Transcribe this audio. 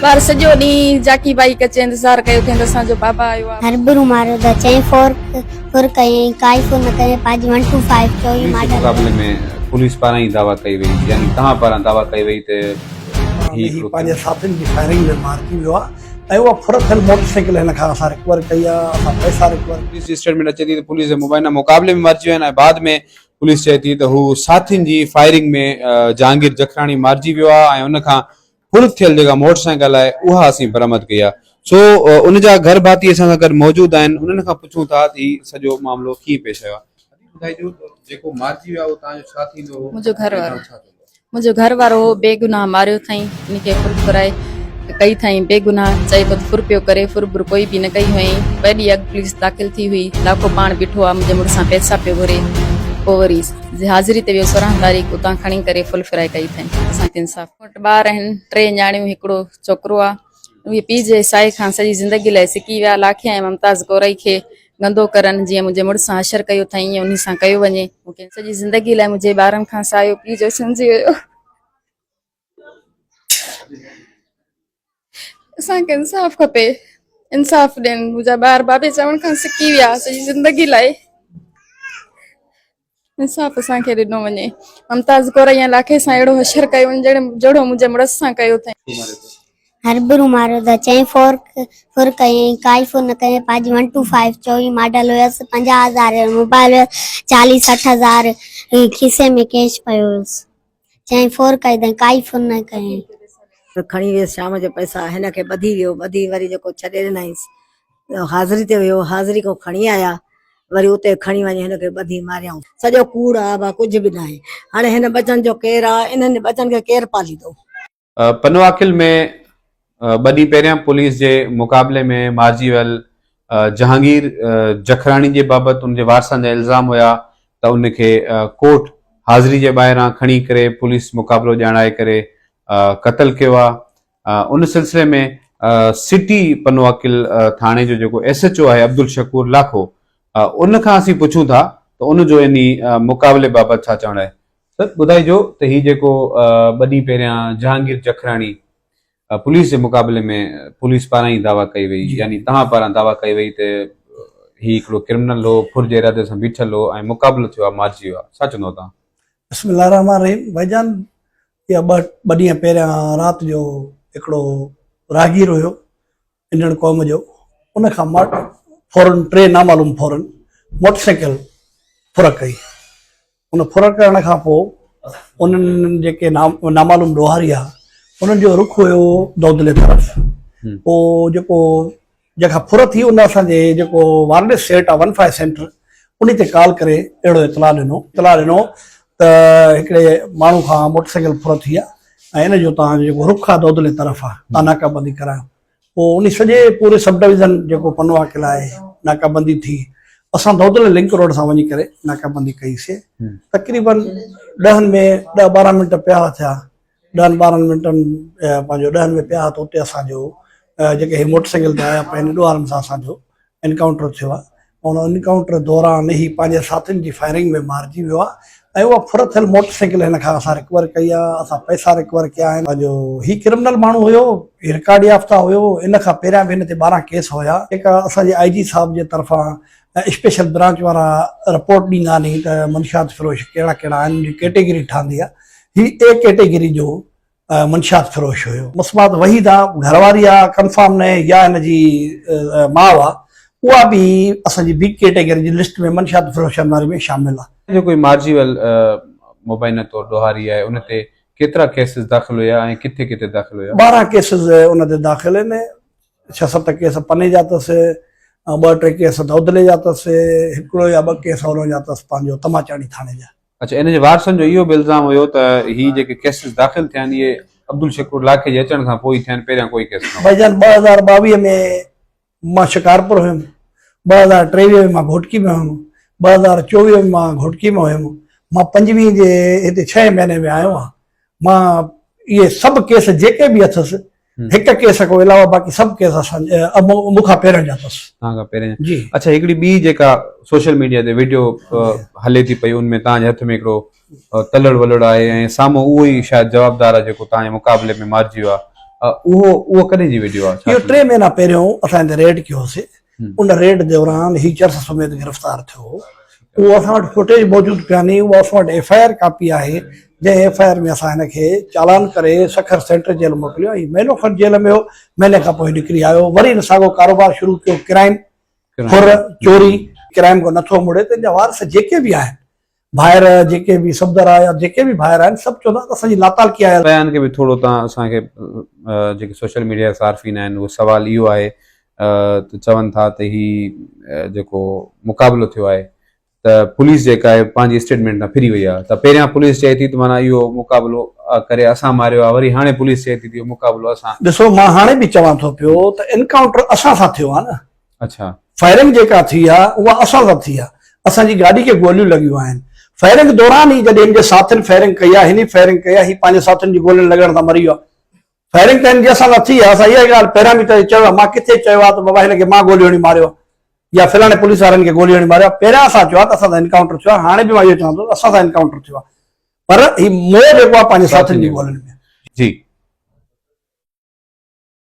ٻار سڄو ڏينهن جاکي ڀائي ڪچي انتظار ڪيو ٿين ته اسان جو بابا آيو آ. هربرو ماريو ته چئين فور فر ڪيائين ڪائي فر نه ڪيائين پنهنجي ون ٽو فائيو چوئي پوليس ماڊل مقابلي ۾ پوليس پاران ئي دعويٰ ڪئي وئي يعني توهان پاران دعويٰ ڪئي وئي ته هي هي پنهنجي ساٿين جي فائرنگ ۾ مارجي ويو آ ۽ اها ڦر ٿيل موٽر سائيڪل هن کان اسان رڪور ڪئي آ اسان پئسا رڪور پوليس جي اسٽيٽمينٽ اچي ٿي ته پوليس جي مبينا مقابلي ۾ مارجي ويو آهن ۽ بعد ۾ پوليس چئي ٿي ته هو ساٿين جي فائرنگ ۾ جهانگير جکراڻي مارجي ويو آهي ۽ ان کان هلف ٿيل جيڪا موٽر سائيڪل آهي اها اسين برآمد ڪئي آهي سو ان جا گهر ڀاتي اسان سان گڏ موجود آهن انهن کان پڇون ٿا ته هي سڄو معاملو ڪيئن پيش آيو آهي. منهنجو گهر وارو. منهنجو گهر وارو هو بي گناهه ماريو ٿئين ان کي ڦر ڦرائي ڪئي ٿئين بي گناهه چئي ڪوت ڦر پيو ڪري ڦر ڀر ڪوئي به نه ڪئي هئين ويڏي اڳ پوليس داخل ٿي هئي لاکو پاڻ بيٺو آ منهنجي مڙس سان پيسا پيو گهري پو وري جي حاضري تي ويو سورهن تاريخ اتان کڻي ڪري ڦل ڦرائي ڪئي ٿئين اسان کي انصاف ٻار آهن ٽي نياڻيون هڪڙو ڇوڪرو آ اهي پيء جي ساهي کان سڄي زندگي لاء سڪي ويا. لاکي ۽ ممتاز ڪورئي کي گندو ڪرن، جيئن منهنجي مڙس سان حشر ڪيو اٿائين، ائين انهي سان ڪيو وڃي. مون کي سڄي زندگي لاء منهنجي ٻارن کان ساهيو پيء جو سمجهي ويو. اسان کي انصاف کپي. انصاف ڏين. منهنجا ٻار بابي چوڻ کان سڪي ويا. سڄي زندگي لاء. انصاف اسان کي ڏنو وڃي. ممتاز ڪور ائين لاکي سان اهڙو حشر ڪيو وڃي جهڙي جهڙو منهنجي مڙس سان ڪيو اٿئين. هربرو ماريو اٿئي چئين فور فور ڪيئين ڪائي فور نه ڪيئين پاجي ون ٽو فائيو چوويهه ماڊل هيس پنجاهه هزار جو موبائل هيس چاليهه سٺ هزار کيسي ۾ ڪيش پيو هيس. چيائين فور ڪئي تائين ڪائي فون نه ڪيائين. کڻي ويس شام جو پئسا هن کي ٻڌي ويو ٻڌي وري جيڪو ڇڏي ڏنائينس حاضري تي ويو حاضري کان کڻي آيا وري اتي کڻي وڃي هن کي ٻڌي ماريائون سڄو ڪوڙ آ ڀا ڪجهه به ناهي هاڻي هن ٻچن جو ڪير آ انهن ٻچن کي ڪير پاليندو. پنواکل ۾ ٻه ڏينهن پهريان پوليس جي مقابلي ۾ مارجي ويل جهانگير جکراڻي جي بابت ان جي وارثن جا الزام هيا ته ان کي ڪورٽ حاضري جي ٻاهران کڻي ڪري پوليس مقابلو ڄاڻائي ڪري قتل ڪيو آهي ان سلسلي ۾ سٽي پنواکل ٿاڻي جو جيڪو ايس ايچ او آهي عبدالشڪور لاکو ان کان اسين پڇون ٿا ته ان جو انهي مقابلي بابت ڇا چوڻ آهي سر ٻڌائجو ته هي جيڪو ٻه ڏينهن پهريان جهانگير جکراڻي پوليس جي مقابلي ۾ پوليس پاران ئي دعويٰ ڪئي وئي يعني توهان پاران دعويٰ ڪئي وئي ته هي هڪڙو ڪرمنل هو ڦر جي ارادي سان بيٺل هو ۽ مقابلو ٿيو آهي مارجي ويو آهي ڇا چوندو توهان؟ بسم الله الرحمٰن الرحيم ڀائي جان اها ٻه ٻه ڏينهن پهريان رات جو هڪڙو راهگير هيو انڙ قوم جو ان کان ماٽ فورن ٽي نامعلوم فورن موٽر سائيڪل ڦرڪ ڪئي ان ڦرڪ ڪرڻ کان پوء انهن جيڪي نامعلوم ڏوهاري آ انهن جو رخ هيو دودلي طرف پوء جيڪو جيڪا ڦر ٿي ان اسان جي جيڪو وارلس سيٽ آ ون فائيو سينٽر انهي تي ڪال ڪري اهڙو اطلاع ڏنو اطلاع ڏنو ته هڪڙي ماڻهو کان موٽر سائيڪل ڦرو ٿي آهي ۽ ان جو توهان جو جيڪو رخ آهي دودلي طرف آهي توهان ناڪا بندي ڪرايو پوء ان سڄي پوري سب ڊويزن جيڪو پنوا قلعه آهي ناڪا بندي ٿي اسان دودلي لنڪ روڊ سان وڃي ڪري ناڪا بندي ڪئي سي تقريبن ڏهن ۾ ڏهه ٻارهن منٽ پيا ٿيا ڏهن ٻارهن منٽن پنهنجو ڏهن ۾ پيا ته اتي اسان جو جيڪي هي موٽر سائيڪل تي آيا پنهنجي ڏوهارن سان اسان جو انڪائونٽر ٿيو آهي ان انڪائونٽر دوران هي پنهنجي ساٿين جي فائرنگ ۾ مارجي ويو آهي ۽ اها ڦر ٿيل موٽر سائيڪل هن کان اسان رڪور ڪئي آهي اسان پئسا رڪور ڪيا آهن پنهنجو هي ڪرمنل ماڻهو هيو هي رڪارڊ يافته هيو ان کان پهريان به هن تي ٻارهن ڪيس هيا جيڪا اسان جي آئي جي صاحب جي طرفان اسپيشل برانچ وارا رپورٽ ڏيندا ني ته منشيات فروش ڪهڙا ڪهڙا آهن ان جي ڪيٽيگري ٺهندي آهي هي اي ڪيٽيگري جو منشيات فروش هيو. مسمات وحيده گهرواري آ ڪنفرم ناهي يا هن جي ماء آ اها به اسان جي بي ڪيٽيگري جي لسٽ ۾ منشيات فروشن واري ۾ شامل آ. جيڪو هي مارجيول مبينه طور ڏوهاري آهي ان تي ڪيترا ڪيسز داخل هيا ۽ ڪٿي ڪٿي داخل هيا؟ ٻارهن ڪيسز ان تي داخل آهن. ڇهه ست ڪيس پني جا اٿس ۽ ٻه ٽي ڪيس دودلي جا اٿس، هڪڙو يا ٻه ڪيس هورنهن جا اٿس پنهنجو تماچاڻي ٿاڻي جا. اڇا ان جي وارثن جو اهو به الزام هيو ته هي جيڪي ڪيسز داخل ٿيا آهن اهي عبدالشڪور لاکي جي اچڻ کان پوء ئي ٿيا آهن پهريان ڪوئي ڪيس نه هو. بئي جان ٻه هزار ٻاويهه ۾ مان شڪارپور هيم، ٻه هزار ٽيويهه ۾ مان گهوٽڪي ۾ هيم، ٻه هزار چوويهه ۾ مان گهوٽڪي ۾ هيم، مان پنجويهه جي هتي ڇهين مهيني ۾ آيو آهيان. مان اهي سڀ ڪيس جيڪي به اٿس هڪ ڪيس کان علاوه باقي سڀ ڪيس اسان مون کان پهريان جا اٿس توهان کان پهريان جي اڇا هڪڙي ٻي جيڪا سوشل ميڊيا تي ويڊيو هلي ٿي پئي ان ۾ توهان جي هٿ ۾ هڪڙو تلڙ ولڙ آهي ۽ سامهون اهو ئي شايد جوابدار آهي جيڪو توهان جي مقابلي ۾ مارجي ويو آهي اهو اهو ڪڏهن جي ويڊيو آهي اهو ٽي مهينا پهريون اسان هتي ريڊ ڪيو هوسي ان ريڊ دوران هي چرس سميت گرفتار ٿيو هو، اهو اسان وٽ فوٽيج موجود ڪانهي، اها اسان وٽ ايف آء آر ڪاپي آهي، جنهن ايف آء آر ۾ اسان هن کي چالان ڪري سکر سينٽر جيل موڪليو ۽ مهينو کن جيل ۾ هو، مهيني کان پوء نڪري آيو، وري هن ساڳيو ڪاروبار شروع ڪيو، ڪرائم، ڦر، چوري، ڪرائم کان نٿو مڙي ته هن جا وارث جيڪي به آهن، ڀائر جيڪي به صفدر آهي يا جيڪي به ڀائر آهن سڀ چوندا ته اسان جي لاتعلقي آهي. بيان کي به ٿورو تان اسان کي جيڪي سوشل ميڊيا جا صارفين آهن اهو سوال اهو آهي ته چون ٿا ته هي جيڪو مقابلو ٿيو آهي ته پوليس جيڪا آهي پنهنجي اسٽيٽمينٽ تان ڦري وئي آهي ته پهريان پوليس چئي ٿي ته معنيٰ اهو مقابلو ڪري اسان ماريو آهي وري هاڻي پوليس چئي ٿي ته اهو مقابلو اسان ڏسو مان هاڻي به چوان ٿو پيو ته انڪائونٽر اسان سان ٿيو آهي نه اڇا. فائرنگ جيڪا ٿي آ اها اسان سان ٿي آ اسان جي گاڏي کي گوليون لڳيون آهن فائرنگ دوران ئي جڏهن هن جي ساٿين فائرنگ ڪئي آ هن ئي فائرنگ ڪئي آ هي پنهنجي ساٿين جي گولين لڳڻ سان مري ويو آ فائرنگ ته هن جي اسان سان ٿي آ اسان اها ڳالهه پهريان به توهي چيو آ مان ڪٿي چيو آ ته بابا هن کي مان گوليون هڻي ماريو آ يا فلاڻي پوليس وارن کي گوليون هڻي ماريو آ پهريان اسان چيو آ ته اسان سان انڪائونٽر ٿيو آ هاڻي به مان اهو چوان ٿو ته اسان سان انڪائونٽر ٿيو آ پر هي مور جيڪو آ پنهنجي ساٿين جي گولين ۾ آ جي.